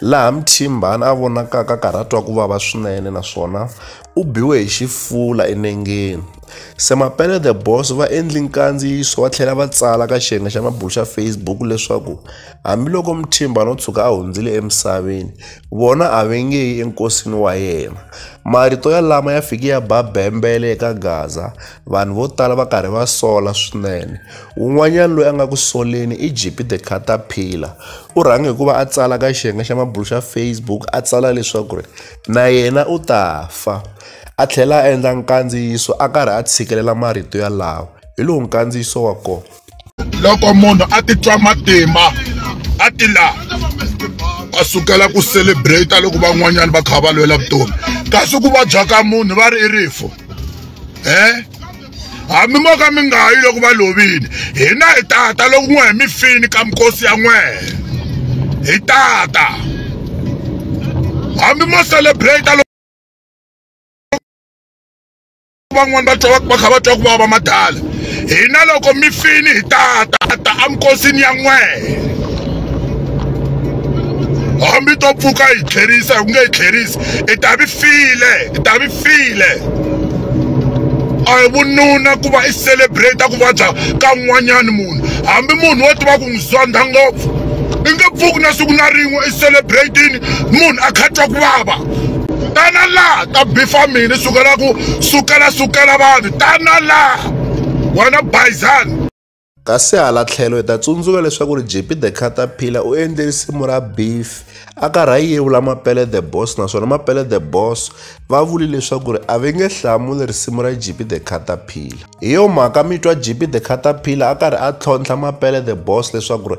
laha Mthimbani a vonakaka a karhi a twa ku vava swinene naswona u biwe hi xifula enengeni. Se Mapele the Boss va endli nkandziyiso va tlhela va tsala ka xiyenge xa mabulu xa Facebook leswaku hambiloko Mthimbani o tshuka a hundzile emisaveni, vona a va nge yi enkosini wa yena. Marito yalama ya fike ya ba bembele eka Gaza, vanhu vo tala va karhi va sola swinene un'wanyana loyi a nga ku soleni i jp the caterpillar u rhange hikuva a tsala ka xiyenge xa mabulo xa facebook a tsala leswaku ri na yena u ta fa a tlhela a endla nkandziyiso a karhi a tshikelela marito yalawo hi lowu nkandziyiso wa kona loko munhu a titwa matimba a ti la a sukela ku celebrate loko van'wanyana va kha va lwela vutomi kasi ku vabya ka munhu va ri i rifo eh hambi mo ka mi nga yi loko va lovile hina hi tata loko n'we hi mi fini ka mikosi ya n'we hi tata hambi mo celebrate van'wani va twa va kha va twa ku vava matala hina loko mi fini hi tatata emikosini ya n'wehe hambi to pfuka hi tlherisa hi ku nge hi tlherisi i ta vi file i ta vi file a hi vununa ku va i celebrate ku vabya ka n'wanyani munhu hambi munhu wo tiva ku n'wi zondha ngopfu i nge pfuki na siku na rin'we i celebratini munhu a kha twa ku vava tana laha ta bifa mina sukela ku sukela sukela vanhu tana laha wena bayizani kasi hala tlhelo hi ta tsundzuka leswaku ri jp the caterpillar u endle risimu ra beef a karhi a yevula mapele the boss naswona mapele the boss va vuli leswaku ri a va nge hlamuli risimu ra jp the caterpillar hi yo mhaka mi twa jp the caterpillar a karhi a tlhontlha mapele the boss leswaku ri